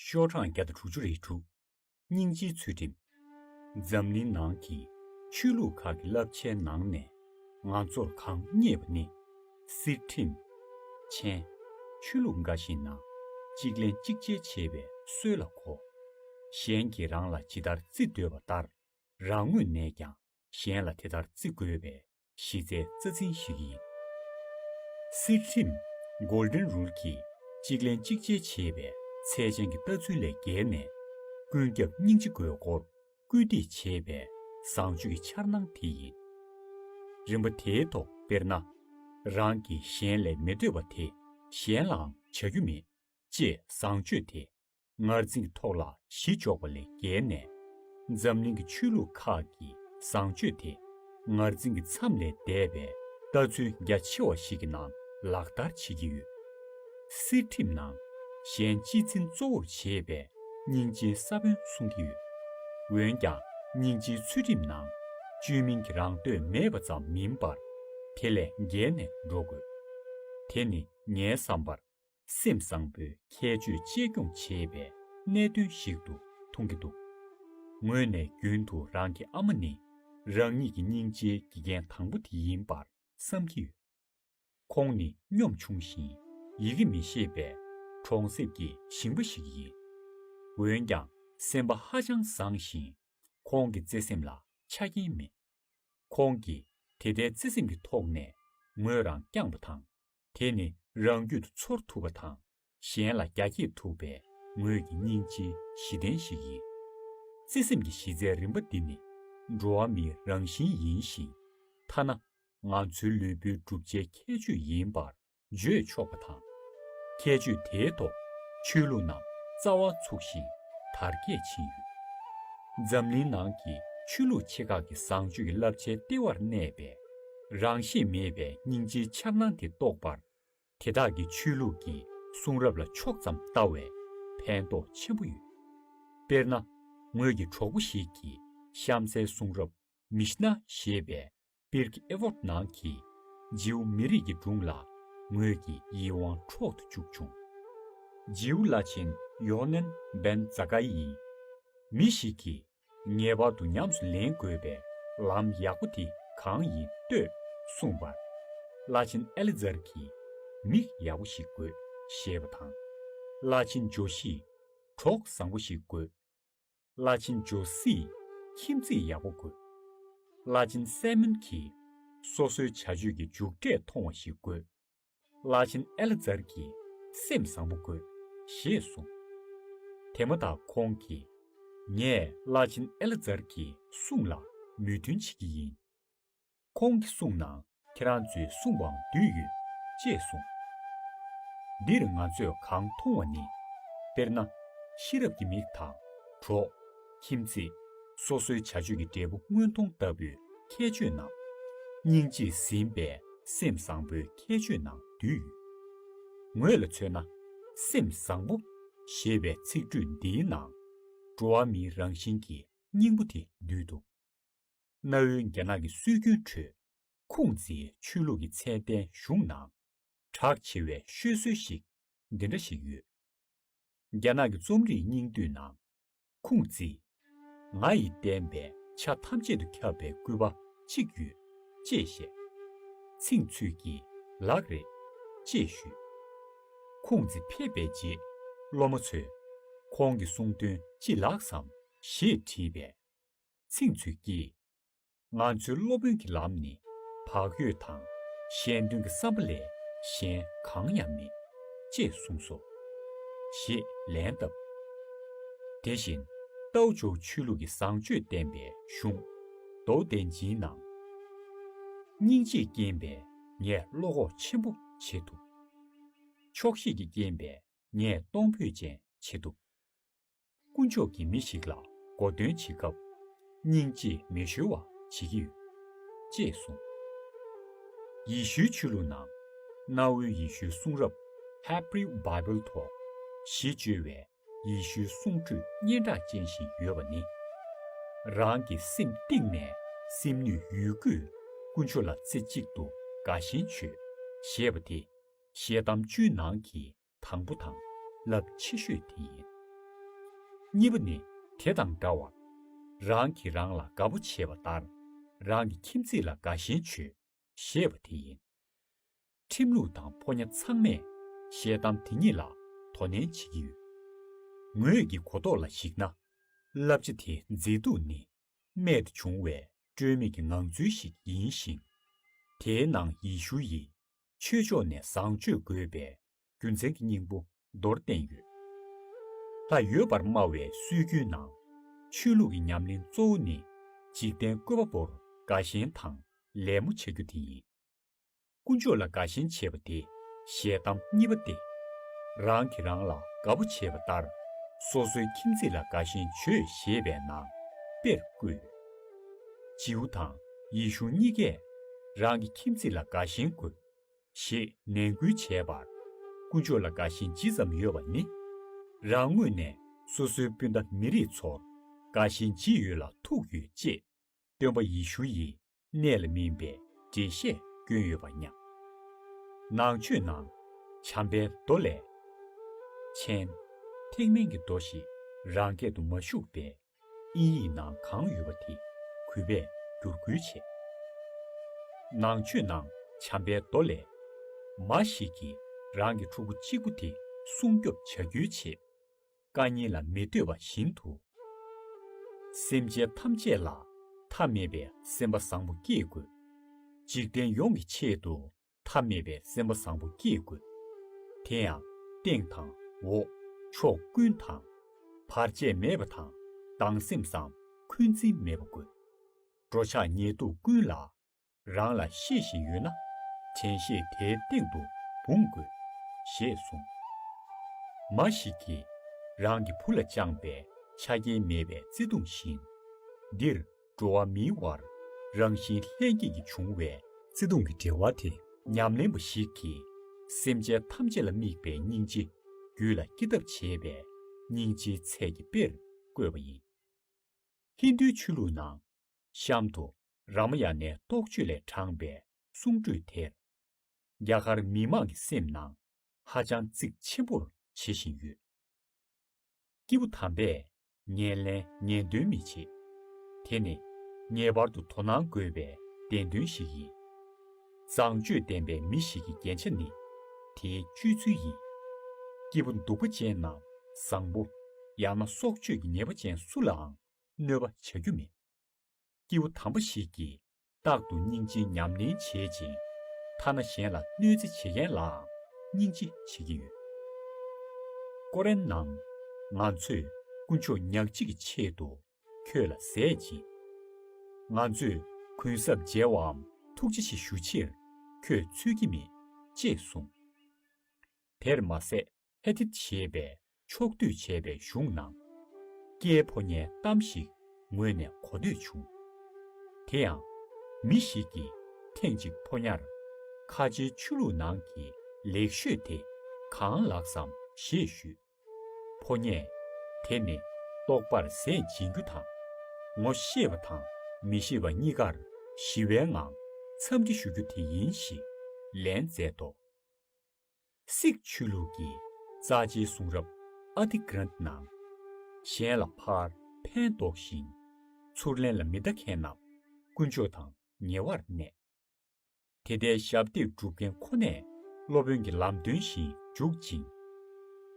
ཤོག་གྲངས་བརྒྱ་དང་དྲུག་ཅུ་རེ་དྲུག། སྙིང་རྗེའི་ཚུལ་ཁྲིམས། འཛམ་གླིང་ནང་གི་ཆོས་ལུགས་ཁག་གི་བསླབ་བྱའི་ནང་ནས་ང་ཚོར་གང་རྙེད་པ་ནི། སྲིད་ཁྲིམས། མཆན། ཆོས་ལུགས་འགའ་ཞིག་ནང་གཅིག་ལེན་གཅིག་འཇལ་བྱེད་པའི་སྲོལ་ལ་གོ། གཞན་གྱིས་རང་ལ་ཇི་ལྟར་བརྩི་འདོད་པ་ལྟར་རང་ངོས་ནས་ཀྱང་གཞན་ལ་དེ་ལྟར་བརྩི་དགོས་པའི་གཞི་རྩའི་རྩ་འཛིན་ཞིག་ཡིན། སྲིད་ཁྲིམས། Golden Rule། ཀྱིས་གཅིག་ལན་གཅིག་འཇལ་བྱེད་པའི་ཚད་ཅན་གྱི་ལྟ་ཚུལ་ལས་བརྒལ་ནས། ཀུན་ཁྱབ་སྙིང་རྗེ་དགོས་སྐོར་སྐུལ་འདེད་བྱེད་པའི་བཟང་སྤྱོད་ཀྱི་འཆར་སྣང་དེ་ཡིན། རིམ་པ་དེའི་ཐོག་དཔེར་ན། རང་གིས་གཞན་ལས་མི་འདོད་པ་དེ་གཞན་ལའང་བྱ་རྒྱུ་མེད་ཅེས་བཟང་སྤྱོད་དེ་ངར་འཛིང་ཐོག་ལ་གཞི་འཇོག་པ་ལས་བརྒལ་ནས། འཛམ་གླིང་གི་ཆོས་ལུགས་ཁག་གི་བཟང་སྤྱོད་དེ་ངར་འཛིང་གི་མཚམས་ལས་འདས་པའི་ལྟ་ཚུལ་རྒྱ་ཆེ་བ་ཞིག་གི་ནང་ལག་བསྟར་བྱེད་ཀྱི་ཡོད། གསེར་ཁྲིམས་ནང་གཞན་གཅེས་འཛིན་གཙོ་བོར་བྱེད་པའི་སྙིང་རྗེའི་ས་བོན་གསུང་གི་ཡོད། འོན་ཀྱང་སྙིང་རྗེའི་ཚུལ་ཁྲིམས་ནང་བཅོས་མིན་གྱི་རང་འདོད་མེད་པ་ཙམ་མིན་པར་དེ་ལས་བརྒལ་ནས་འགྲོ་དགོས། དེ་ནི་ངའི་བསམ་པར་སེམས་བཟང་པོའི་ཁྱད་ཆོས་གཅེས་སྐྱོང་བྱེད་པའི་གནད་དོན་ཞིག་ཏུ་མཐོང་གི་འདུག་ངོས་ནས་རྒྱུན་དུ་རང་གི་ཨ་མ་ནི་རང་ཉིད་ཀྱི་སྙིང་རྗེའི་དགེ་རྒན་དང་པོ་དེ་ཡིན་པར་བསམ་གྱི་ཡོད། ཁོང་ནི་གཉོམ་ཆུང་ཞིང་ཡི་གེ་མི་ཤེས་པའི་གྲོང་གསེབ་ཀྱི་ཞིང་པ་ཞིག་ཡིན། འོན་ཀྱང་སེམས་པ་ཧ་ཅང་བཟང་ཞིང་ཁོང་གི་བརྩེ་སེམས་ལ་ཆ་རྐྱེན་མེད། ཁོང་གིས་དེ་ལྟའི་བརྩེ་སེམས་ཀྱི་ཐོག་ནས་ངོས་རང་བསྐྱངས་པ་དང་དེ་ནི་རང་རྒྱུད་དུ་ཚོར་ཐུབ་པ་དང་གཞན་ལ་རྒྱ་བསྐྱེད་ཐུབ་པའི་ངོས་ཀྱི་སྙིང་རྗེའི་གཞི་རྟེན་ཞིག་ཡིན། བརྩེ་སེམས་ཀྱི་གཞི་རྩའི་རིམ་པ་འདི་ནི་འགྲོ་བ་མིའི་རང་བཞིན་ཡིན་ཞིང། ཐ་ན་ང་ཚོའི་ལུས་པོའི་གྲུབ་ཆའི་ཁྱད་ཆོས་ཡིན་པར་བརྗོད་ཆོག་པ་དང། ཁྱད་ཆོས་དེའི་ཐོག་ཆོས་ལུགས་རྣམས་རྩ་བ་ཚུགས་ཤིང་དར་རྒྱས་ཕྱིན་ཡོད། འཛམ་གླིང་ནང་གི་ཆོས་ལུགས་ཆེ་ཁག་གི་བཟང་སྤྱོད་ཀྱི་བསླབ་བྱའི་ལྟེ་བར་གནས་པའི་རང་བཞིན་མེད་པའི་སྙིང་རྗེའི་འཆར་སྣང་དེ་རྟོགས་པར། དེ་དག་གི་ཆོས་ལུགས་ཀྱི་གསུང་རབ་ལ་ཕྱོགས་ཙམ་བལྟ་བས་ཕན་ཐོགས་ཆེན་པོ་ཡོད། དཔེར་ན། ངོས་ཀྱི་གྲོགས་པོ་ཞིག་གིས་གཤམ་གསལ་གསུང་རབ Mishnah ཞེས་པའི་པིར་ཀི་ཨེབོད་ནང་གི་རྗེའུ་མི་རིགས་ཀྱི་སྒྲུང་ལ་ངོས་ཀྱི་ཡིད་དབང་འཕྲོག་ཏུ་བཅུག་བྱུང། རྗེའུ་བླ་ཆེན་ཡོ་ཧ་ནན་བན་ཛ་ཀ་ཡིས་མི་ཞིག་གིས་ངེས་པར་དུ་ཉམས་སུ་ལེན་དགོས་པའི་ལམ་ཡག་པོ་དེ་གང་ཡིན་ལྟོས་གསུངས་པར། བླ་ཆེན་ཨེ་ལི་ཛར་གྱིས་མིག་ཡག་པོ་ཞིག་དགོས་ཞེས་པ་དང། བླ་ཆེན་ཇོ་ཤིས་གྲོགས་བཟང་པོ་ཞིག་དགོས། བླ་ཆེན་ཇོ་སིས་ཁྱིམ་མཚེས་ཡག་པོ་དགོས། བླ་ཆེན་སའེ་མོན་གྱིས་སོ་སོའི་བྱ་སྤྱོད་ཀྱི་མཇུག་འབྲས་མཐོང་བ་ཞིག་དགོས། བླ་ཆེན་ཨེ་ལ་ཛར་གྱིས་སེམས་བཟང་པོ་དགོས། ཞེས་གསུངས། དེ་མ་ཐག་ཁོང་གིས། ངས་བླ་ཆེན་ཨེ་ལ་ཛར་གྱི་གསུང་ལ་མོས་མཐུན་བྱེད་ཀྱི་ཡིན། ཁོང་གི་གསུང་ནང་ཁྱེད་རང་ཚོའི་གསུང་བའང་འདུས་ཡོད། ཅེས་གསུངས། འདིར་ང་ཚོས་གང་མཐོང་བ་ནི། དཔེར་ན། ཤེས་རབ་ཀྱི་མིག་དང་གྲོགས། ཁྱིམ་མཚེས། སོ་སོའི་བྱ་སྤྱོད་ཀྱི་འབྲས་བུ་དངོས་མཐོང་ལྟ་བུའི་ཁྱད་ཆོས་སྣང། སྙིང་རྗེས་ཟིན་པས་སེམས་བཟང་པོའི་ཁྱད་ཆོས་སྣང་དུས་ཡོད། ངོས་ལ་མཚོན་ན། སེམས་བཟང་པོ། ཞེས་པའི་ཚིག་འགྲོས་འདིའི་ནང། འགྲོ་བ་མིའི་རང་བཞིན་གྱི་སྙིང་པོ་དེ་འདུས་འདུག། གནའ་བོའི་རྒྱ་ནག་གི་སྲོལ་རྒྱུན་ཁྲོད། ཁུང་ཙིའི་ཆོས་ལུགས་ཀྱི་ཚད་ལྡན་གཞུང་ནང། གྲགས་ཆེ་བའི་ཤོད་སྲོལ་ཞིག་འདི་འདྲ་ཞིག་ཡོད། རྒྱ་ནག་གི་རྩོམ་རིག་སྙིང་བསྡུས་ནང། ཁུང་ཙི། ང་ཡི་བསྟན་པའི་ཆ་ཐམས་ཅད་དུ་ཁྱབ་པའི་སྐུད་པ་གཅིག་ཡོད། ཅེས་བཤད། ཚིག་མཛོད་ཀྱིས་ལག་རེད། ཅེས་ཞུས། ཁུང་ཙི་ཕེབས་པའི་རྗེས་སློབ་མ་ཚོས། ཁོང་གི་གསུང་དོན་ཅི་ལགས་སམ། ཞེས་དྲིས་པས། ཚིག་མཛོད་ཀྱིས། ང་ཚོའི་སློབ་དཔོན་གྱི་ལམ་ནི་བག་ཡོད་དང་གཞན་དོན་གྱི་བསམ་པ་ལས་གཞན་གང་ཡང་མེད། ཅེས་གསུངས་སོ། ཞེས་ལན་བཏབ། དེ་བཞིན་རྟའུ་ཇོ་ཆོས་ལུགས་ཀྱི་བཟང་སྤྱོད་བསྟན་པའི་གཞུང། མདོ་བདེ་འཇིའི་ནང། སྙིང་རྗེས་རྐྱེན་པས་ངས་བློ་ཁོག་ཆེན་པོ་བྱེད་ཐུབ། ཆོག་ཤེས་ཀྱི་རྐྱེན་པས་ངས་གཏོང་ཕོད་ཅན་བྱེད་ཐུབ། དཀོན་མཆོག་གིས་མི་ཞིག་ལ་མགོ་འདོན་བྱེད་སྐབས། སྙིང་རྗེ་མི་གཞོལ་བ་བྱེད་ཀྱི་ཡོད། ཅེས་གསུངས། ཡེ་ཤུའི་ཆོས་ལུགས་ནང། གནའ་བོའི་ཡེ་ཤུའི་གསུང་རབ། Hebrew Bible Talk། ཞེས་བཅོས་བའི་ཡེ་ཤུའི་གསུང་ཁྲོད་སྙན་གྲགས་ཅན་བཞིན་ཡོད་པ་ནི། རང་གི་སེམས་གཏིང་ནས་སེམས་ནུས་ཡོད་རྒུས་དཀོན་མཆོག་ལ་རྩེ་གཅིག་ཏུ་དགའ་ཞེན་བྱོས། ཞེས་པ་དེ། ཞལ་གདམས་བཅུའི་ནང་གི་དང་པོ་དང་རླབས་ཆེ་ཤོས་དེ་ཡིན། གཉིས་པ་ནི་དེ་དང་འདྲ་བར། རང་གིས་རང་ལ་དགའ་པོ་བྱེད་པ་ལྟར་རང་གི་ཁྱིམ་མཚེས་ལ་དགའ་ཞེན་བྱོས་ཞེས་པ་དེ་ཡིན། ཁྲིམས་ལུགས་དང་ཕོ་ཉ་ཚང་མས་ཤེས་གཏམ་དེ་གཉིས་ལ་དོ་ནན་བྱེད་ཀྱི་ཡོད། ངོས་ཀྱི་གོ་རྟོགས་ལ་གཞིགས་ན། བསླབ་བྱ་དེ་མཛེས་སྡུག་ནི་རྨད་དུ་བྱུང་བའི་སྤྲོས་མེད་ཀྱི་ངང་ཚུལ་ཞིག་ཡིན་ཞིང། དེའི་ནང་ཡེ་ཤུ་ཡིས་ཆོས་ཕྱོགས་ནས་བཟང་སྤྱོད་དགོས་པའི་རྒྱུ་མཚན་གྱི་སྙིང་པོ་མདོར་བསྟན་ཡོད། ད་ཡོད་པར་སྨྲ་བའི་སྲོལ་རྒྱུན་ནང། ཆོས་ལུགས་ཀྱི་ཉམས་ལེན་གཙོ་བོ་ནི་འཇིག་རྟེན་བཀོད་པ་པོར་དགའ་ཞེན་དང་ལད་མོ་བྱ་རྒྱུ་དེ་ཡིན། དཀོན་མཆོག་ལ་དགའ་ཞེན་བྱེད་པ་དེ་ཞལ་གདམས་གཉིས་པ་སྟེ། རང་གིས་རང་ལ་དགའ་བོ་བྱེད་པ་ལྟར་སོ་སོའི་ཁྱིམ་མཚེས་ལ་དགའ་ཞེན་བྱོས་ཞེས་པས་ན་དཔེར་བཀོད། རྗེའུ་དང་ཡེ་ཤུ་གཉིས་ཀས་རང་གི་ཁྱིམ་མཚེས་ལ་དགའ་ཞེན་དགོས་ཞེས་ནན་སྐུལ་བྱས་པར་དཀོན་མཆོག་ལ་དགའ་ཞེན་ཇི་ཙམ་ཡོད་པ་ནི། རང་ངོས་ནས་སོ་སོའི་སྤུན་ཟླ་མི་རིགས་ཚོར་དགའ་ཞེན་ཇི་ཡོད་ལ་ཐུག་ཡོད་ཅེས་སྟོན་པ་ཡེ་ཤུ་ཡིས་གནས་ལ་སྨིན་པའི་འགྲེལ་བཤད་སྐྱོན་ཡོད་པར་སྙམ། ནང་ཆོས་ནང། བྱམས་པའི་མདོ་ལས། མཆན། ཐེག་དམན་གྱི་མདོ་ཞེས་རང་སྐད་དུ་མ་བཞུགས་པས། དབྱིན་ཡིག་ནང་གང་ཡོད་པ་དེ་གུས་པས་བསྒྱུར་བསྐུལ་བྱས། ནང་ཆོས་ནང་བྱམས་པའི་མདོ་ལས། མ་ཞིག་གིས་རང་གི་ཕྲུ་གུ་གཅིག་པོ་དེ་སྲུང་སྐྱོབ་བྱ་རྒྱུའི་ཆེད། བཀའ་ཉན་ལ་མི་ལྟོས་པ་བཞིན་དུ། སེམས་ཅན་ཐམས་ཅད་ལ་མཐའ་མེད་པའི་སེམས་པ་བཟང་པོ་བསྐྱེད་དགོས། འཇིག་རྟེན་ཡོངས་ཀྱི་ཆེད་དུ་མཐའ་མེད་པའི་སེམས་པ་བཟང་པོ་བསྐྱེད་དགོས། དེ་ཡང་སྟེང་དང་འོག་ཕྱོགས་ཀུན་དང། བར་ཆད་མེད་པ་དང་སྡང་སེམས་སམ་འཁོན་འཛིན་མེད་པ་དགོས། འགྲོ་འཆག་ཉལ་འདུག་ཀུན་ལ་རང་ལ་ཤེས་བཞིན་ཡོད་ན་དྲན་ཤེས་དེའི་སྟེང་དུ་འབུངས་དགོས། ཞེས་གསུངས། མ་ཞིག་གིས་རང་གི་བུ་ལ་བཅངས་པའི་ཆ་རྐྱེན་མེད་པའི་བརྩེ་དུང་བཞིན། འདིར་འགྲོ་བ་མིའི་དབར་རང་བཞིན་ལྷན་སྐྱེས་ཀྱིས་བྱུང་བའི་བརྩེ་དུང་གི་འབྲེལ་བ་དེ་ཉམས་ལེན་པ་ཞིག་གིས་སེམས་ཅན་ཐམས་ཅད་ལ་དམིགས་པའི་སྙིང་རྗེ་རྒྱུད་ལ་སྐྱེ་ཐབས་བྱེད་པའི་སྙིང་རྗེའི་ཚད་ཀྱི་དཔེར་བཀོད་པ་ཡིན། ཧིན་དུའི་ཆོས་ལུགས་ནང་གཤམ་དུ་ར་མ་ཡ་ནའི་རྟོགས་བརྗོད་ལས་དྲངས་པའི་གསུང་སྒྲོས་དེར། རྒྱ་གར་མི་དམངས་ཀྱི་སེམས་ནང་ཧ་ཅང་གཙིགས་ཆེན་པོར་བྱེད་བཞིན་ཡོད། སྐྱེས་བུ་དམ་པས་ངན་ལེན་ངན་དོན་མི་བྱེད། དེ་ནི་ངེས་པར་དུ་དོ་སྣང་དགོས་པའི་བདེན་དོན་ཞིག་ཡིན། བཟང་སྤྱོད་ལྡན་པའི་མི་ཞིག་གི་རྒྱན་ཆ་ནི་དེའི་སྤྱོད་ཚུལ་ཡིན། སྐྱེས་བུ་འདུག་པ་ཅན་རྣམས་བཟང་པོ་ཡང་ན་སྲོག་གཅོད་ཀྱི་ཉེས་པ་ཅན་སུ་ལའང་གནོད་པ་བྱ་རྒྱུ་མེད། སྐྱེས་བུ་དམ་པ་ཞིག་གིས་རྟག་ཏུ་སྙིང་རྗེ་ཉམས་ལེན་བྱེད་ཅིང། ཐ་ན་གཞན་ལ་གནོད་འཚེ་བྱེད་མཁན་ལའང་སྙིང་རྗེ་བྱེད་ཀྱི་ཡོད། ཀོ་རན་ནང། ང་ཚོས་དཀོན་མཆོག་ཉག་གཅིག་གི་ཆེད་དུ་ཁྱོད་ལ་ཟས་སྦྱིན། ང་ཚོས་གུན་གསབ་འཇལ་བའམ་ཐུགས་རྗེ་ཆེ་ཞུ་ཕྱིར་ཁྱོད་འཚོལ་གྱི་མེད། ཅེས་གསུངས། དེར་མ་ཟད་ཨེ་ཏི་ཞེས་པའི་ཕྱོགས་བསྡུས་བྱས་པའི་གཞུང་ནང། སྐྱེས་ཕོ་ཉའི་གཏམ་ཞིག་ངོས་ནས་གོ་ཐོས་བྱུང། དེ་ཡང། མི་ཞིག་གིས་ཐེངས་གཅིག་ཕོ་ཉར། ཁ་ཆེའི་ཆོས་ལུགས་ནང་གི་ལེགས་ཤོས་དེ་གང་ལགས་སམ་ཞེས་ཞུས། ཕོ་ཉས། དེ་ནི་རྟོགས་པར་ཟས་སྦྱིན་རྒྱུ་དང། ངོ་ཤེས་པ་དང་མི་ཤེས་པ་གཉིས་ཀར་ཞི་བའི་ངང་འཚམས་འདྲི་ཞུ་རྒྱུ་དེ་ཡིན་ཞེས་ལན་མཛད་དོ། སིག་ཆོས་ལུགས་ཀྱི་རྩ་ཆེའི་གསུང་རབ Adi Granth ནང། གཞན་ལ་ཕར་ཕན་འདོགས་ཤིང། ཚུར་ལན་ལ་མི་བལྟ་མཁན་རྣམས་དཀོན་མཆོག་དང་ཉེ་བར་གནས། དེ་ལྟའི་ཞབས་འདེགས་སྒྲུབ་མཁན་ཁོ་ནས་སློབ་དཔོན་གྱི་ལམ་སྟོན་བཞིན་འཇུག་ཅིང།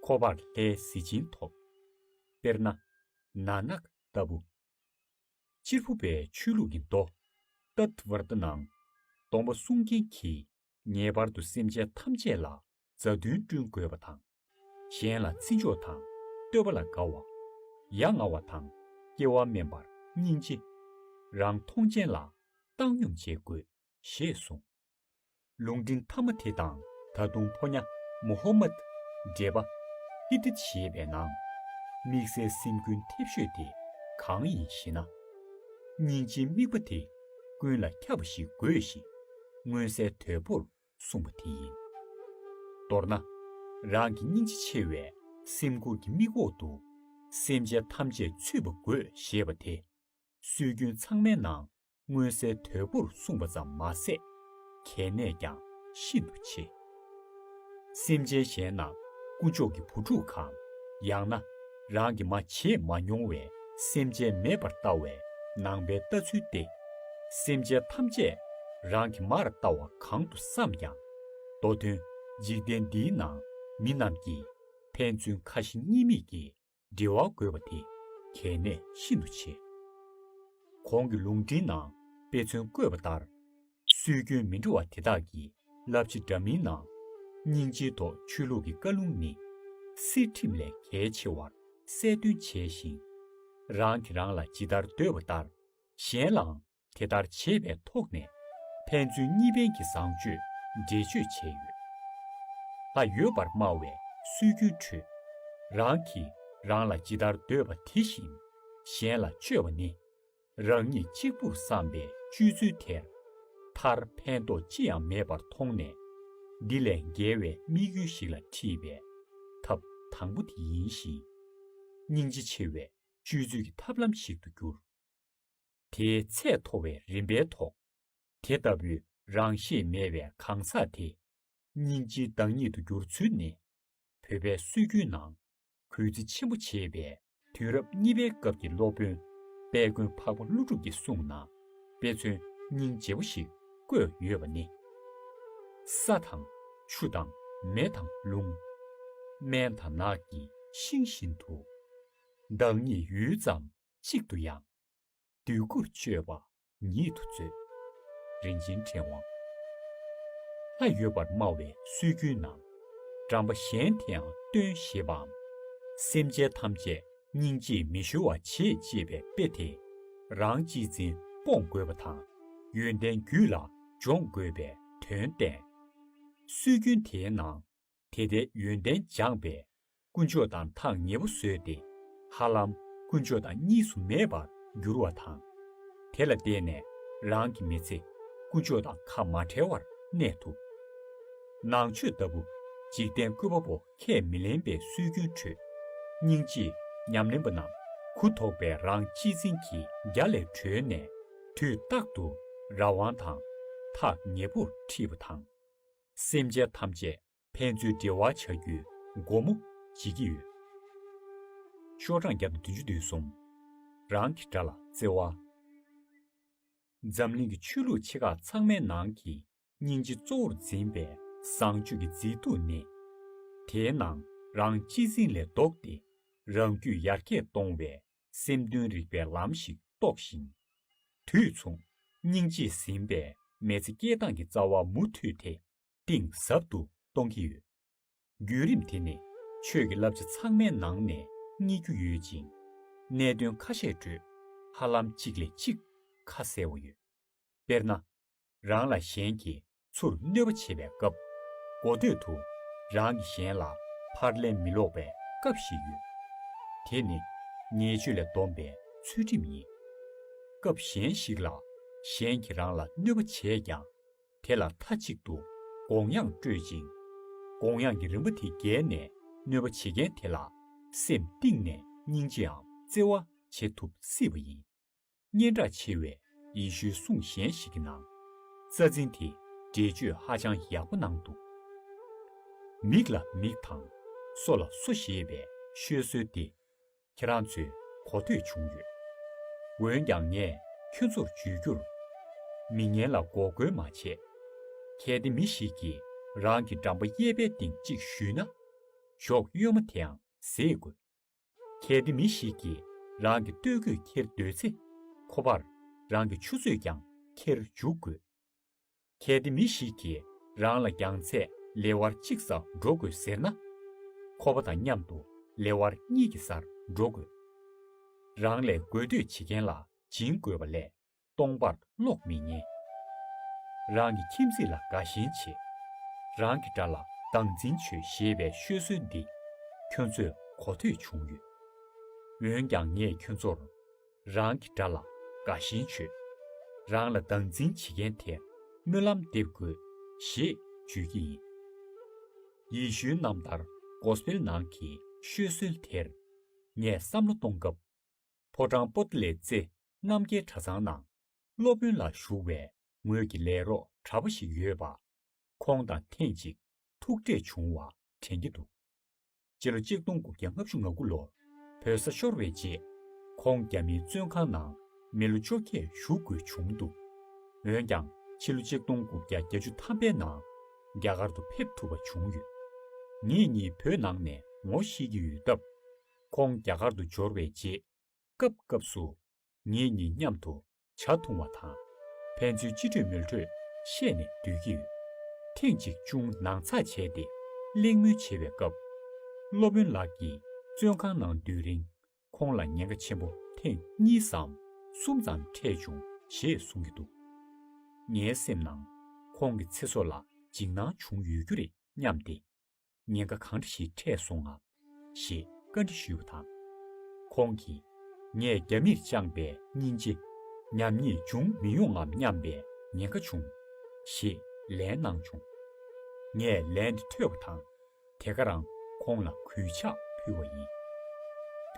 ཁོ་པར་ལྷའི་གཟི་བྱིན་ཐོབ། དཔེར་ན། Nanak ལྟ་བུ། སྤྱིར་བུ་པའི་ཆོས་ལུགས་ཀྱི་མདོ། Tattvartha ནང། སྡོམ་པ་སྲུང་མཁན་གྱིས་ངེས་པར་དུ་སེམས་ཅན་ཐམས་ཅད་ལ་མཛའ་མཐུན་བསྐྲུན་དགོས་པ་དང། གཞན་ལ་བརྩི་འཇོག་དང་བསྟོད་པ་ལ་དགའ་བ། ཡ་ང་བ་དང་སྐྱེ་བ་དམན་པར་སྙིང་རྗེ། རང་མཐོང་ཅན་ལ་བཏང་སྙོམས་བྱེད་དགོས་ཞེས་གསུངས། ལུང་འདི་མཐའ་མ་དེ་དང་ད་དུང་ཕོ་ཉ་མོ་ཧོ་མད། འགྲེལ་པ། ཧི་ཏི་ཞེས་པའི་ནང། དམིགས་བསལ་སེམས་ཀུན་མཐེབ་ཤོས་དེ་གང་ཡིན་ཞེ་ན། སྙིང་རྗེའི་དམིགས་པ་དེ་ཀུན་ལ་ཁྱབ་པ་ཞིག་དགོས་ཞེས་མངོན་གསལ་དོད་པོར་གསུངས་པ་དེ་ཡིན། མདོར་ན། རང་གི་སྙིང་རྗེ་ཆེ་བའི་སེམས་ཁུར་གྱི་དམིགས་འོག་ཏུ་སེམས་ཅན་ཐམས་ཅད་ཚུད་པ་དགོས་ཞེས་པ་དེ། སྲོལ་རྒྱུན་ཚང་མའི་ནང་མངོན་གསལ་དོད་པོར་གསུངས་པ་ཙམ་མ་ཟད། གལ་གནད་ཀྱང་ཤིན་ཏུ་ཆེ། སེམས་ཅན་གཞན་རྣམས་དཀོན་མཆོག་གི་བུ་ཕྲུག་གམ། ཡང་ན་རང་གིས་མ་བྱས་མ་མྱོང་བའི་སེམས་ཅན་མེད་པར་ལྟ་བའི་ནང་པའི་ལྟ་ཚུལ་ཏེ། སེམས་ཅན་ཐམས་ཅད་རང་གི་མར་ལྟ་བ་གང་དུ་བསམས་ཀྱང། མདོ་དོན་འཇིག་རྟེན་འདིའི་ནང་མི་རྣམས་ཀྱིས་ཕན་ཚུན་ཁ་ཞེ་གཉིས་མེད་ཀྱིས་འབྲེལ་བ་དགོས་པ་དེ་གལ་གནད་ཤིན་ཏུ་ཆེ། གོང་གི་ལུང་འདྲེན་ནང་དཔེ་མཚོན་བཀོད་པ་ལྟར། སྲོལ་རྒྱུན་མི་འདྲ་བ་དེ་དག་གི་བསླབ་བྱ་འདྲ་མིན་ནང། སྙིང་རྗེའི་ཐོག་ཆོས་ལུགས་ཀྱི་བཀའ་ལུང་ནི། སྲིད་ཁྲིམས་ལས་གལ་ཆེ་བར་གསལ་སྟོན་བྱས་ཤིང། རང་གིས་རང་ལ་ཇི་ལྟར་འདོད་པ་ལྟར་གཞན་ལའང་དེ་ལྟར་བྱེད་པའི་ཐོག་ནས་ཕན་ཚུན་གཉིས་ཕན་གྱི་བཟང་སྤྱོད་འགྲེལ་བརྗོད་བྱས་ཡོད། ལ་ཡོད་པར་སྨྲ་བའི་སྲོལ་རྒྱུན་ཁྲོད། རང་གིས་རང་ལ་ཇི་ལྟར་འདོད་པ་དེ་བཞིན་གཞན་ལ་སྤྱོད་པ་ནི། རང་ཉིད་གཅིག་པུར་བསམ་པའི་སྤྱོད་ཚུལ་དེར་མཐར་ཕན་ཐོགས་ཅི་ཡང་མེད་པར་མཐོང་ནས། འདི་ལས་འགལ་བའི་དམིགས་ཡུལ་ཞིག་ལ་འཁྲིད་པའི་ཐབས་དང་པོ་དེ་ཡིན་ཞིང། སྙིང་རྗེ་ཆེ་བའི་སྤྱོད་ཚུལ་གྱི་ཐབས་ལམ་ཞིག་ཏུ་གྱུར། དེའི་ཚད་མཐོ་བའི་རིམ་པའི་ཐོག། དེ་ལྟ་བུའི་རང་ཤེས་མེད་པའི་གང་ཟག་དེ། སྙིང་རྗེའི་བདག་ཉིད་དུ་འགྱུར་ཚུལ་ནི། བོད་པའི་སྲོལ་རྒྱུན་ནང་གུས་བརྩི་ཆེན་པོ་བྱེད་པའི་དུས་རབས་གཉིས་པའི་སྐབས་ཀྱི་སློབ་དཔོན་དཔལ་མགོན་འཕགས་པ་ཀླུ་སྒྲུབ་ཀྱི་གསུང་ནང་དཔེ་མཚོན་སྙིང་རྗེ་བོ་ཞིག་བཀོད་ཡོད་པ་ནི། ས་དང། ཆུ་དང། མེ་དང། རླུང། སྨན་དང་ནགས་ཀྱི་ཤིང་བཞིན་དུ། བདག་ཉིད་ཡུད་ཙམ་གཅིག་ཏུ་ཡང། འདོད་དགུར་སྤྱོད་པ་ཉིད་དུ་མཛོད། རིན་ཆེན་ཕྲེང་བ་ལྷ་ཡོད་པར་སྨྲ་བའི་སྲོལ་རྒྱུན་ན། འགྲམ་པ་གཞན་དེའང་སྟོན་ཞེས་པའམ། སེམས་ཅན་ཐམས་ཅད་སྙིང་རྗེས་མི་གཞོལ་བར་བྱེད་ཅེས་པའི་དཔེ་དེ། རང་གཅེས་འཛིན་སྤོང་དགོས་པ་དང་ཡོན་ཏན་རྒྱུད་ལ་སྦྱོང་དགོས་པའི་དོན་བསྟན། སྲོལ་རྒྱུན་དེའི་ནང་དེ་ལྟའི་ཡོན་ཏན་སྦྱངས་པས། དཀོན་མཆོག་དང་ཐག་ཉེ་པོ་བཟོས་ཏེ། ཧ་ལམ་དཀོན་མཆོག་དང་གཉིས་སུ་མེད་པར་འགྱུར་བ་དང། དེ་ལ་བརྟེན་ནས་རང་གི་མི་ཚེ་དཀོན་མཆོག་དང་ཁ་མ་བྲལ་བར་གནས་ཐུབ། ནང་ཆོས་ལྟ་བུ་འཇིག་རྟེན་བཀོད་པ་པོ་ཁས་མི་ལེན་པའི་སྲོལ་རྒྱུན་ཁྲོད། སྙིང་རྗེས་ཉམས་ལེན་པ་རྣམས་གུ་དོག་པའི་རང་གཅེས་འཛིན་གྱི་རྒྱ་ལས་གྲོལ་ནས་དུས་རྟག་ཏུ་རང་དབང་དང་ཐག་ཉེ་པོར་འཁྲིད་པ་དང། སེམས་ཅན་ཐམས་ཅད་ཕན་ཚུན་འབྲེལ་བ་བྱ་རྒྱུའི་སྒོ་མོ་འབྱེད་ཀྱི་ཡོད། ཤོག་གྲངས་བརྒྱ་དང་བདུན་ཅུ་བདུན་གསུམ། རང་གི་དགྲ་ལ་བརྩེ་བ། འཛམ་གླིང་གི་ཆོས་ལུགས་ཆེ་ཁག་ཚང་མའི་ནང་གི་སྙིང་རྗེ་གཙོ་བོར་འཛིན་པའི་བཟང་སྤྱོད་ཀྱི་མཛེས་སྡུག་ནི། དེའི་ནང་རང་གཅེས་འཛིན་ལས་ལྡོག་སྟེ་རང་རྒྱུད་ཡར་རྒྱས་གཏོང་བའི་སེམས་དོན་རིག་པའི་ལམ་ཞིག་རྟོགས་ཤིང། དུས་མཚུངས་སྙིང་རྗེས་ཟིན་པའི་མེལ་ཚེ་སྐྱེལ་སྟངས་ཀྱི་རྩ་བ་མུ་མཐུད་དེ་གཏིང་ཟབ་ཏུ་གཏོང་གི་ཡོད། བརྒྱུད་རིམ་དེ་ནི་ཆོས་ཀྱི་བསླབ་བྱ་ཚང་མའི་ནང་ནས་རྙེད་རྒྱུ་ཡོད་ཅིང། གནད་དོན་ཁ་ཤས་ཁྲོད་ཧ་ལམ་གཅིག་ལས་གཅིག་ཁ་གསལ་བོ་ཡོད། དཔེར་ན། རང་ལ་གཞན་གྱིས་ཚུར་གནོད་པ་བྱེད་པའི་སྐབས། མགོ་སྟོད་དུ་རང་གིས་གཞན་ལ་ཕར་ལན་མི་སློག་པའི་སྐབས་ཤིག་ཡོད། དེ་ནི་ཉེས་སྤྱོད་ལས་བསྡོམས་པའི་ཚུལ་ཁྲིམས་ཡིན། སྐབས་གཞན་ཞིག་ལ་གཞན་གྱིས་རང་ལ་གནོད་པ་བྱས་ཀྱང་དེ་ལ་མཐའ་གཅིག་ཏུ་དགོངས་དབྱངས་སྤྲོད་ཅིང། དགོངས་དབྱངས་ཀྱི་རིམ་པ་དེ་བརྒལ་ནས་གནོད་པ་བྱེད་མཁན་དེ་ལ་སེམས་གཏིང་ནས་སྙིང་རྗེའམ་བརྩེ་བ་བྱེད་ཐུབ་སྲིད་པ་ཡིན། སྙན་གྲགས་ཆེ་བའི་ཡེ་ཤུའི་གསུང་གཞན་ཞིག་གི་ནང། རྩ་འཛིན་དེ་འགྲེལ་བརྗོད་ཧ་ཅང་ཡག་པོ་གནང་འདུག་མིག་ལ་མིག་དང་སོ་ལ་སོ་ཞེས་པའི་ཤོད་སྲོལ་དེ་ཁྱེད་རང་ཚོས་གོ་ཐོས་བྱུང་ཡོད། འོན་ཀྱང་ངས་ཁྱོད་ཚོར་བརྗོད་རྒྱུར། མི་ངན་ལ་འགོག་རྒོལ་མ་བྱེད། གལ་ཏེ་མི་ཞིག་གིས་རང་གི་འགྲམ་པ་གཡས་པའི་སྟེང་གཅིག་བཞུས་ན། གཞོགས་གཡོན་མ་དེའང་བཟེད་དགོས། གལ་ཏེ་མི་ཞིག་གིས་རང་གི་སྟོད་གོས་འཁྱེར་འདོད་ཚེ། ཁོ་པར་རང་གི་ཆུ་ཚོད་ཀྱང་འཁྱེར་འཇུག་དགོས། གལ་ཏེ་མི་ཞིག་གིས་རང་ལ་རྒྱང་ཚད་ལེ་དབར་གཅིག་སར་འགྲོ་དགོས་ཟེར་ན། ཁོ་པ་དང་མཉམ་དུ་ལེ་དབར་གཉིས་ཀྱི་སར་འགྲོ་དགོས། རང་ལས་དགོས་འདོད་བྱེད་མཁན་ལ་སྦྱིན་དགོས་པ་ལས་སྟོང་པར་ཀློག་མི་ཉན། རང་གི་ཁྱིམ་མཚེས་ལ་དགའ་ཞེན་བྱེད། རང་གི་དགྲ་ལ་སྡང་འཛིན་བྱོས་ཞེས་པའི་ཤོད་སྲོལ་འདི་ཁྱོད་ཚོས་གོ་ཐོས་བྱུང་ཡོད། འོན་ཀྱང་ངས་ཁྱོད་ཚོར། རང་གི་དགྲ་ལ་དགའ་ཞེན་བྱོས། རང་ལ་སྡང་འཛིན་བྱེད་མཁན་དེར་སྨོན་ལམ་འདེབས་དགོས་ཞེས་བརྗོད་ཀྱི་ཡིན། ཡེ་ཤུའི་རྣམ་ཐར Gospel ནང་གི་ཤོད་སྲོལ་དེར་ངས་བསམ་བློ་གཏོང་སྐབས། ཕོ་བྲང་པོ་ཏི་ལེ་ཙེ་རྣམ་རྒྱལ་གྲྭ་ཚང་ནང་སློབ་དཔོན་ལ་ཞུགས་པའི་ངོས་ཀྱི་ལས་རོགས་གྲྭ་པ་ཞིག་ཡོད་པ། ཁོང་དང་ཐེངས་གཅིག་ཐུག་འཕྲད་བྱུང་བ་དྲན་གྱི་འདུག་སྤྱི་ལོ་གཅིག་སྟོང་དགུ་བརྒྱ་ལྔ་བཅུ་ང་དགུ་ལོར་བོད་ས་ཤོར་བའི་རྗེས། ཁོང་རྒྱ་མིའི་བཙོན་ཁང་ནང་མི་ལོ་བཅོ་བརྒྱད་བཞུགས་དགོས་བྱུང་འདུག་འོན་ཀྱང་ཕྱི་ལོ་གཅིག་སྟོང་དགུ་བརྒྱ་གྱ་བཅུ་ཐམ་པའི་ནང་རྒྱ་གར་དུ་ཕེབས་ཐུབ་པ་བྱུང་ཡོད། ངེད་གཉིས་བོད་ནང་ནས་ངོ་ཤེས་ཀྱི་ཡོད་སྟབས། ཁོང་རྒྱ་གར་དུ་འབྱོར་བའི་རྗེས་སྐབས་སྐབས་སུ། ངེད་གཉིས་མཉམ་དུ་བྱ་འཐུང་བ་དང། ཕན་ཚུན་སྤྱི་འགྲོས་མོལ་འཕྲོས་བཤད་ནས་སྡོད་ཀྱི་ཡོད། ཐེངས་གཅིག་ཅུང་ནང་ཚགས་བྱས་ཏེ་གླེང་མོལ་བྱེད་པའི་སྐབས། སློབ་དཔོན་ལགས་ཀྱིས་བཙོན་ཁང་ནང་སྡོད་རིང་ཁོང་ལ་ཉེན་ཁ་ཆེན་པོ་ཐེངས་གཉིས་སམ་གསུམ་ཙམ་འཕྲད་བྱུང་ཞེས་གསུང་གི་འདུག་ངའི་སེམས་ནང་ཁོང་གི་ཚེ་སྲོག་ལ་འཇིགས་སྣང་བྱུང་ཡོད་རྒྱུ་རེད་སྙམ་སྟེ། ཉེན་ཁ་གང་འདྲ་ཞིག་འཕྲད་སོང་ངམ། ཞེས་བཀའ་འདྲི་ཞུས་པ་དང། ཁོང་གིས། ངས་རྒྱ་མིར་བཅངས་པའི་སྙིང་རྗེ། ཉམས་ཉེས་འབྱུང་མི་ཡོང་ངམ་སྙམ་པའི་ཉེན་ཁ་བྱུང། ཞེས་ལན་གནང་བྱུང། ངས་ལན་དེ་ཐོས་པ་དང། དེ་ག་རང་ཁོང་ལ་གུས་ཕྱག་ཕུལ་བ་ཡིན།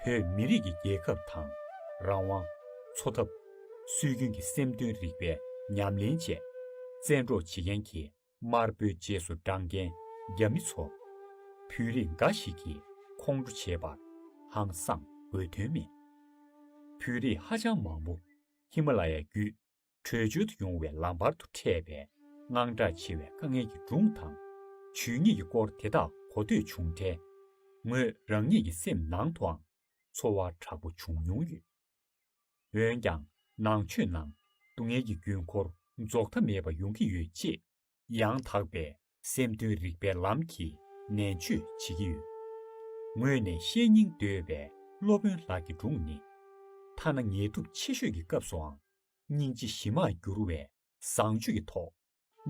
བོད་མི་རིགས་ཀྱི་རྒྱལ་ཁབ་དང། རང་དབང། འཚོ་ཐབས། སྲོལ་རྒྱུན་གྱི་སེམས་དོན་རིག་པའི་ཉམས་ལེན་བཅས། བཙན་འཕྲོག་བྱེད་མཁན་གྱི་དམར་པོའི་རྗེས་སུ་འབྲང་རྒྱན་རྒྱ་མི་ཚོ། བོད་རིགས་འགའ་ཞིག་གིས་ཁོང་ཁྲོ་བྱེད་པར་ཧང་སང་དགོས་དོན་མེད། བོད་རིགས་ཧ་ཅང་མང་པོ་ཧི་མ་ལ་ཡ་བརྒྱུད་བྲོས་བྱོལ་དུ་ཡོང་བའི་ལམ་བར་དུ་འཕྲད་པའི་དངངས་སྐྲག་ཆེ་བའི་དཀའ་ངལ་གྱི་སྒྲུང་དང། ཇུས་ཉེས་ཀྱི་སྐོར་དེ་དག་གོ་ཐོས་བྱུང་འཕྲལ། ངོས་རང་ཉིད་ཀྱི་སེམས་ནང་དུའང་ཚོར་བ་དྲག་པོ་བྱུང་མྱོང་ཡོད། འོན་ཀྱང་ནང་ཆོས་ནང་སྡུག་བསྔལ་གྱི་རྒྱུན་འཁོར་རྫོགས་མཐའ་མེད་པ་ཡོང་གི་ཡོད་ཅེས་ཡང་དག་པའི་སེམས་དོན་རིག་པའི་ལམ་གྱིས་ནན་བརྗོད་བྱེད་ཀྱི་ཡོད། ངོས་ནས་བཤེས་གཉེན་འདོད་པའི་སློབ་དཔོན་ལགས་ཀྱི་སྒྲུང་ནི། ཐ་ན་ངལ་དུབ་ཆེ་ཤོས་ཀྱི་སྐབས་སུའང་སྙིང་རྗེ་གཞི་མར་འགྱུར་བའི་བཟང་སྤྱོད་ཀྱི་ཐོག་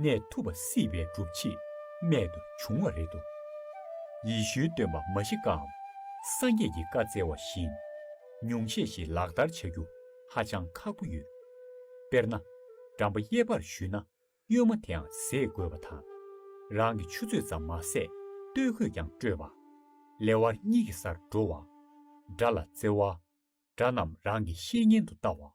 ནས་ཐུབ་པ་སྲིད་པའི་སྒྲུབ་བྱེད་རྨད་དུ་བྱུང་བ་རེད་དོ། ཡེ་ཤུའི་སྟོན་པ་མཱ་ཤི་ཀའམ་སངས་རྒྱས་ཀྱི་བཀའ་བསྩལ་བ་བཞིན་ཉུང་ཤས་ཤིག་ལག་བསྟར་བྱ་རྒྱུ་ཧ་ཅང་ཁག་པོ་ཡོད། དཔེར་ན། འགྲམ་པ་གཡས་པར་བཞུས་ན་གཡོན་མ་དེའང་བཟས་དགོས་པ་དང། རང་གི་ཆུ་ཚོད་ཙམ་མ་ཟད་སྟོད་གོས་ཀྱང་སྤྲོད་པ། ལེ་དབར་གཉིས་ཀྱི་སར་འགྲོ་བ། དགྲ་ལ་བརྩེ་བ། དགྲ་རྣམས་རང་གི་བཤེས་གཉེན་དུ་ལྟ་བ།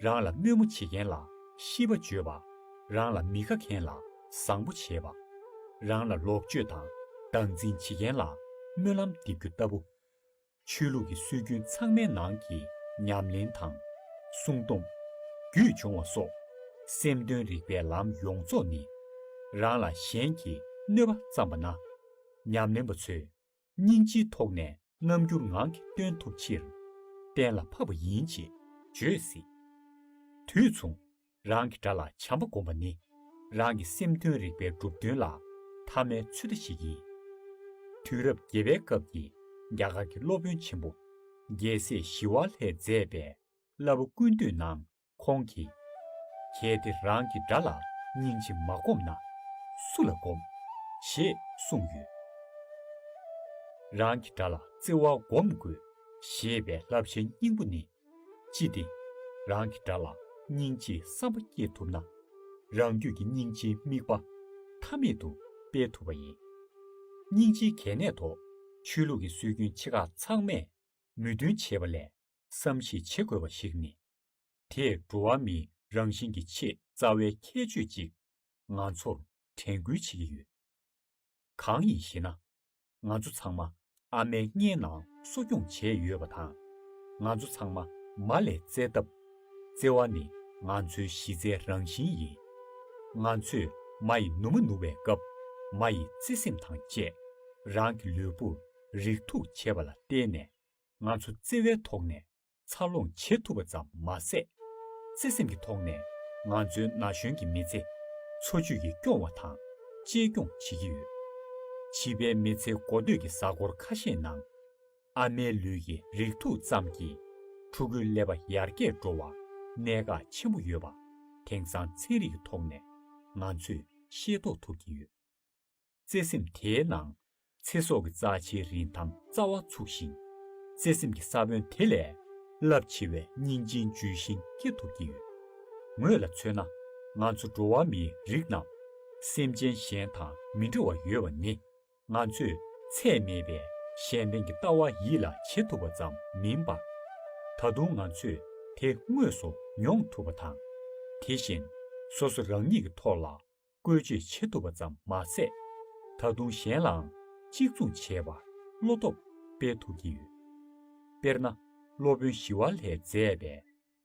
རང་ལ་དམོད་མོ་བྱེད་མཁན་ལ་ཤིས་པ་བརྗོད་པ། རང་ལ་མི་དགའ་མཁན་ལ་བཟང་པོ་བྱེད་པ། རང་ལ་ལོག་སྤྱོད་དང་སྡང་འཛིན་བྱེད་མཁན་ལ་སྨོན་ལམ་འདེབས་རྒྱུ་ལྟ་བུ། ཆོས་ལུགས་ཀྱི་སྲོལ་རྒྱུན་ཚང་མའི་ནང་གི་ཉམས་ལེན་དང། སྲུང་སྡོམ། རྒྱུད་སྦྱོང་བ་སོགས། སེམས་དོན་རིག་པའི་ལམ་ཡོངས་རྫོགས་ནི། རང་ལ་གཞན་གྱིས་གནོད་པ་བརྩམས་པ་ན། ཉམས་ལེན་པ་ཚོས་སྙིང་རྗེའི་ཐོག་ནས་རྣམ་འགྱུར་ངང་གིས་སྟོན་ཐུབ་ཕྱིར། གཏན་ལ་ཕབ་པ་ཡིན་ཅེས་བརྗོད་སྲིད། དུས་མཚུངས། རང་གི་དགྲ་ལ་བྱམས་པ་བསྒོམ་པ་ནི། རང་གི་སེམས་དོན་རིག་པའི་གྲུབ་དོན་ལ་ཐ་མའི་ཚུལ་བརྟག་ཞིག་ཡིན། དུས་རབས་བརྒྱད་པའི་སྐབས་ཀྱི་རྒྱ་གར་གྱི་སློབ་དཔོན་ཆེན་པོ་རྒྱལ་སྲས་ཞི་བ་ལྷས་མཛད་པའི་བསླབ་བ་ཀུན་བཏུས་ནང་ཁོང་གིས། གལ་ཏེ་རང་གི་དགྲ་ལ་སྙིང་རྗེ་མ་སྒོམ་ན། སུ་ལ་སྒོམ། ཞེས་གསུངས་ཡོད། རང་གི་དགྲ་ལ་བརྩེ་བ་སྒོམ་དགོས་ཞེས་པའི་བསླབ་བྱའི་སྙིང་པོ་ནི། ཅི་སྟེ། རང་གི་དགྲ་ལ་སྙིང་རྗེའི་བསམ་པ་སྐྱེ་ཐུབ་ན། རང་རྒྱུད་ཀྱི་སྙིང་རྗེའི་དམིགས་པ་མཐའ་མེད་དུ་སྤེལ་ཐུབ་པ་ཡིན། སྙིང་རྗེའི་གལ་གནད་ཐོག་ཆོས་ལུགས་ཀྱི་སྲོལ་རྒྱུན་ཆེ་ཁག་ཚང་མས་མོས་མཐུན་བྱེད་པ་ལས། བསམ་གཞིག་བྱེད་དགོས་པ་ཞིག་ནི། དེས་འགྲོ་བ་མིའི་རང་བཞིན་གྱི་ཆེས་རྩ་བའི་ཁྱད་ཆོས་ཅིག་ང་ཚོར་དྲན་སྐུལ་བྱེད་ཀྱི་ཡོད། གང་ཡིན་ཞེ་ན། ང་ཚོ་ཚང་མ་ཨ་མའི་མངལ་ནང་གསོ་སྐྱོང་བྱས་ཡོད་པ་དང། ང་ཚོ་ཚང་མ་མ་ལས་བཙས་སྟབས། བཙས་བ་ནི་ང་ཚོའི་གཞི་རྩའི་རང་བཞིན་ཡིན། ང་ཚོས་མ་ཡི་ནུ་མ་ནུ་བའི་སྐབས་མ་ཡི་བརྩེ་སེམས་དང་བཅས་རང་གི་ལུས་པོར་རིགས་མཐུག་བྱེད་པ་ལ་བརྟེན་ནས་ང་ཚོ་བརྩེ་བའི་ཐོག་ནས་འཚར་ལོངས་བྱེད་ཐུབ་པ་ཙམ་མ་ཟད། བརྩེ་སེམས་ཀྱི་ཐོག་ནས་ང་ཚོའི་ན་གཞོན་གྱི་མི་ཚེ་འཚོ་བཅུད་ཀྱིས་སྐྱོང་བ་དང་གཅེས་སྐྱོང་བྱེད་ཀྱི་ཡོད། བྱིས་པའི་མི་ཚེ་འགོ་སྟོད་ཀྱི་གཟའ་འཁོར་ཁ་ཤས་ནང། ཨ་མའི་ལུས་ཀྱི་རིགས་མཐུག་ཙམ་གྱིས་ཕྲུ་གུའི་ཀླད་པ་ཡར་རྒྱས་འགྲོ་བར་གནད་འགག་ཆེན་པོ་ཡོད་པ་དེང་སང་ཚན་རིག་གི་ཐོག་ནས་ང་ཚོས་ཤེས་རྟོགས་ཐུབ་ཀྱི་ཡོད། བརྩེ་སེམས་དེའི་ནང། ཚེ་སྲོག་གི་རྩ་ཆེའི་རིན་ཐང་རྩ་བ་ཚུགས་ཤིང། བརྩེ་སེམས་ཀྱི་ས་བོན་དེ་ལས། རླབས་ཆེ་བའི་སྙིང་རྗེའི་ཇུས་ཤིང་སྐྱེ་ཐུབ་ཀྱི་ཡོད། ངོས་ལ་མཚོན་ན། ང་ཚོ་འགྲོ་བ་མིའི་རིགས་རྣམས། སེམས་ཅན་གཞན་དང་མི་འདྲ་བ་ཡོད་པ་ནི། ང་ཚོས་ཚད་མེད་པའི་གཞན་ཕན་གྱི་ལྟ་བ་ཡིད་ལ་བྱེད་ཐུབ་པ་ཙམ་མིན་པར། ད་དུང་ང་ཚོས་དེ་དངོས་སུ་མྱོང་ཐུབ་པ་དང། དེ་བཞིན། སོ་སོ་རང་ཉིད་ཀྱི་ཐོག་ལ། བཀོལ་སྤྱོད་བྱེད་ཐུབ་པ་ཙམ་མ་ཟད། ད་དུང་གཞན་ལའང་གཅིག་མཚུངས་བྱེད་པར་བློ་སྟོབས་སྤེལ་ཐུབ་ཀྱི་ཡོད། དཔེར་ན་སློབ་དཔོན་ཞི་བ་ལྷས་མཛད་པའི་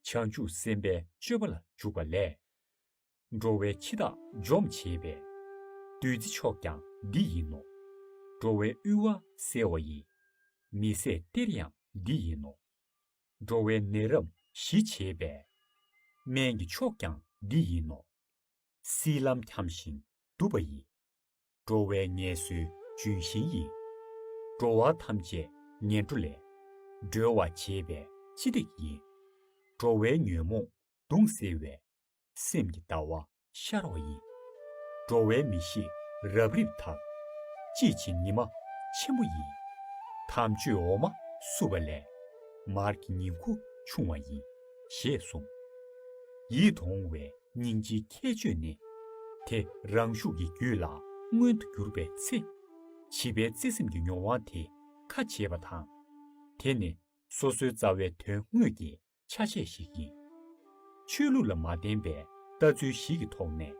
བྱང་ཆུབ་སེམས་དཔའི་སྤྱོད་པ་ལ་འཇུག་པ་ལས། འགྲོ་བའི་འཆི་བདག་འཇོམས་བྱེད་པའི་བདུད་རྩི་མཆོག་ཀྱང་འདི་ཡིན་ནོ། འགྲོ་བའི་དབུལ་བ་སེལ་བ་ཡི་མི་བཟད་གཏེར་ཡང་འདི་ཡིན་ནོ། འགྲོ་བའི་ནད་རབ་ཞི་བྱེད་པའི་སྨན་གྱི་མཆོག་ཀྱང་འདི་ཡིན་ནོ། སྲིད་ལམ་འཁྱམས་ཤིང་དུབ་པ་ཡི། འགྲོ་བའི་ངལ་བསོའི་ལྗོན་ཤིང་ཡིན། འགྲོ་བ་ཐམས་ཅད་ངན་འགྲོ་ལས། སྒྲོལ་བར་བྱེད་པའི་སྤྱི་སྟེགས་ཡིན། འགྲོ་བའི་ཉོན་མོངས་གདུང་སེལ་བའི། སེམས་ཀྱི་ལྟ་བ་ཤར་བ་ཡིན། འགྲོ་བའི་མི་ཤེས་རབ་རིབ་དག། དཔྱིས་ཕྱིན་ཉི་མ་ཆེན་པོ་ཡིན། དམ་ཆོས་འོ་མ་བསྲུབས་པ་ལས། མར་གྱི་ཉིང་ཁུ་ཆུང་བ་ཡིན། ཞེས་གསུངས། ཡིད་དུ་འོང་བའི་སྙིང་རྗེའི་ཁྱད་ཆོས་ནི། དེ་རང་ཤུགས་ཀྱིས་རྒྱུད་ལ་མངོན་དུ་གྱུར་པའི་ཚེ། བྱིས་པའི་བརྩེ་སེམས་ཀྱི་མྱོང་བ་དེ་ཁ་འབྱེད་པ་དང། དེ་ནི་སོ་སོའི་རྩ་བའི་དོན་དངོས་ཀྱི་ཆ་ཤས་ཤིག་ཡིན། ཆོས་ལུགས་ལ་མ་བརྟེན་པའི་ལྟ་ཚུལ་ཞིག་གི་ཐོག་ནས།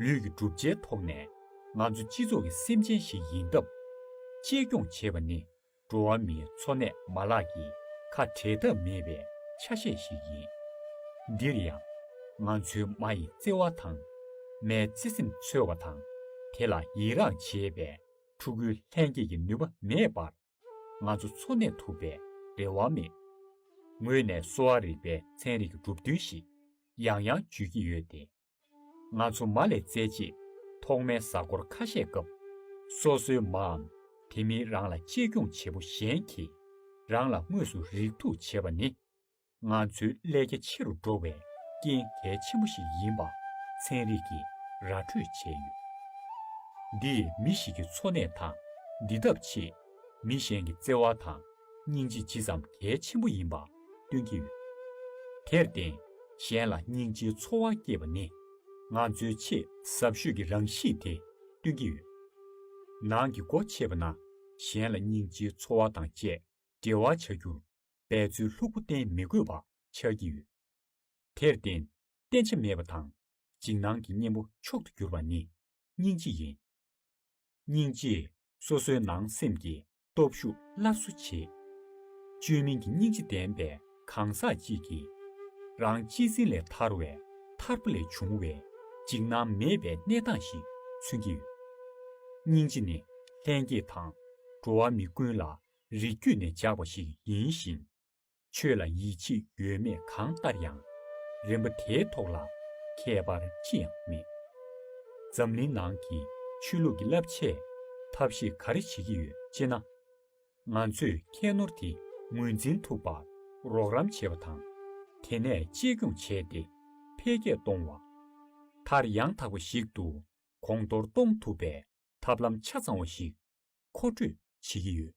ལུས་ཀྱི་གྲུབ་ཆའི་ཐོག་ནས་ང་ཚོ་སྤྱི་ཚོགས་ཀྱི་སེམས་ཅན་ཞིག་ཡིན་སྟབས། གཅེས་སྐྱོང་བྱེད་པ་ནི་འགྲོ་བ་མིའི་འཚོ་གནས་མ་ལག་གི་ཁ་འབྲལ་ཐབས་མེད་པའི་ཆ་ཤས་ཤིག་ཡིན། འདིར་ཡང། ང་ཚོའི་མ་ཡི་བརྩེ་བ་དང། མའི་བརྩེ་སེམས་འཚོལ་བ་དང་དེ་ལ་ཡི་རངས་བྱེད་པའི་ཕྲུ་གུའི་ལྷན་སྐྱེས་ཀྱི་ནུས་པ་མེད་པར། ང་ཚོ་འཚོ་གནས་ཐུབ་པའི་རེ་བ་མེད། ངོས་ནས་གསོ་བ་རིག་པའི་ཚན་རིག་གི་གྲུབ་དོན་ཞིག་ཡང་ཡང་བརྗོད་ཀྱི་ཡོད་དེ། ང་ཚོ་མ་ལས་བཙལ་རྗེས་ཐོག་མའི་གཟའ་འཁོར་ཁ་ཤས་སྐབས། སོ་སོའི་མའམ་དེ་མིན་རང་ལ་གཅེས་སྐྱོང་བྱེད་པོ་གཞན་གྱིས་རང་ལ་དངོས་སུ་རེག་ཐུག་བྱེད་པ་ནི། ང་ཚོའི་ཀླད་རྒྱ་ཆེ་རུ་འགྲོ་བའི་རྐྱེན་གལ་ཆེན་པོ་ཞིག་ཡིན་པ་ཚན་རིག་གིས་ར་འཕྲོད་བྱས་ཡོད། འདིས་མི་ཞིག་གི་འཚོ་གནས་དང་འདི་ཐབས་ཆེད་མི་གཞན་གྱི་བརྩེ་བ་དང་སྙིང་རྗེ་ཇི་ཙམ་གལ་ཆེན་པོ་ཡིན་པ་སྟོན་གྱི་ཡོད། དེར་བརྟེན་གཞན་ལ་སྙིང་རྗེའི་ཚོར་བ་སྐྱེས་པ་ནི་ང་ཚོའི་ཆེས་ཟབ་ཤོས་ཀྱི་རང་གཤིས་དེ་སྟོན་གྱི་ཡོད། ནང་གི་སྒོ་ཕྱེས་པ་ན་གཞན་ལ་སྙིང་རྗེའི་ཚོར་བ་དང་བཅས་འབྲེལ་བ་བྱ་རྒྱུར་འབད་རྩོལ་ལྷུག་པོ་བསྟེན་མི་དགོས་པ་ཆགས་ཀྱི་ཡོད། དེར་བརྟེན་བསྟེན་བྱ་མེད་པ་དང་འཇིགས་སྣང་གི་གཉེན་པོ་མཆོག་ཏུ་གྱུར་པ་ནི་སྙིང་རྗེ་ཡིན། སྙིང་རྗེས་སོ་སོའི་ནང་སེམས་ཀྱི་སྟོབས་ཤུགས་སླར་གསོ་བྱེད། བཅོས་མིན་གྱི་སྙིང་རྗེ་ལྡན་པའི་གང་ཟག་ཅིག་གིས། རང་གཅེས་འཛིན་ལས་ཐར་བའི་ཐར་པ་ལས་བྱུང་བའི་འཇིགས་སྣང་མེད་པའི་གནས་སྟངས་ཤིག་མཚོན་གྱི་ཡོད། སྙིང་རྗེ་ནི་ལྷན་སྐྱེས་དང་འགྲོ་བ་མི་ཀུན་ལ་རིགས་རྒྱུད་ནས་འཇགས་པ་ཞིག་ཡིན་ཞིང། ཆོས་ལ་ཡིད་ཆེས་ཡོད་མེད་གང་ལྟར་ཡང། རིན་པོ་དེའི་ཐོག་ལ་ཁྱད་པར་ཅི་ཡང་མེད། འཛམ་གླིང་ནང་གི་ཆོས་ལུགས་ཀྱི་བསླབ་བྱའི་ཐབས་ཤེས་ག་རེ་བྱེད་ཀྱི་ཡོད་ཅེ་ན། ང་ཚོས་ཁྱད་ནོར་དེ་ངོས་འཛིན་ཐུབ་པར་རོགས་རམ་བྱེད་པ་དང། དེ་ནས་གཅེས་སྐྱོང་བྱས་ཏེ་འཕེལ་རྒྱས་གཏོང་བ། མཐར་ཡང་དག་པ་ཞིག་ཏུ་གོང་མཐོར་གཏོང་ཐུབ་པའི་ཐབས་ལམ་ཆ་ཚང་བ་ཞིག་མཁོ་སྤྲོད་བྱེད་ཀྱི་ཡོད།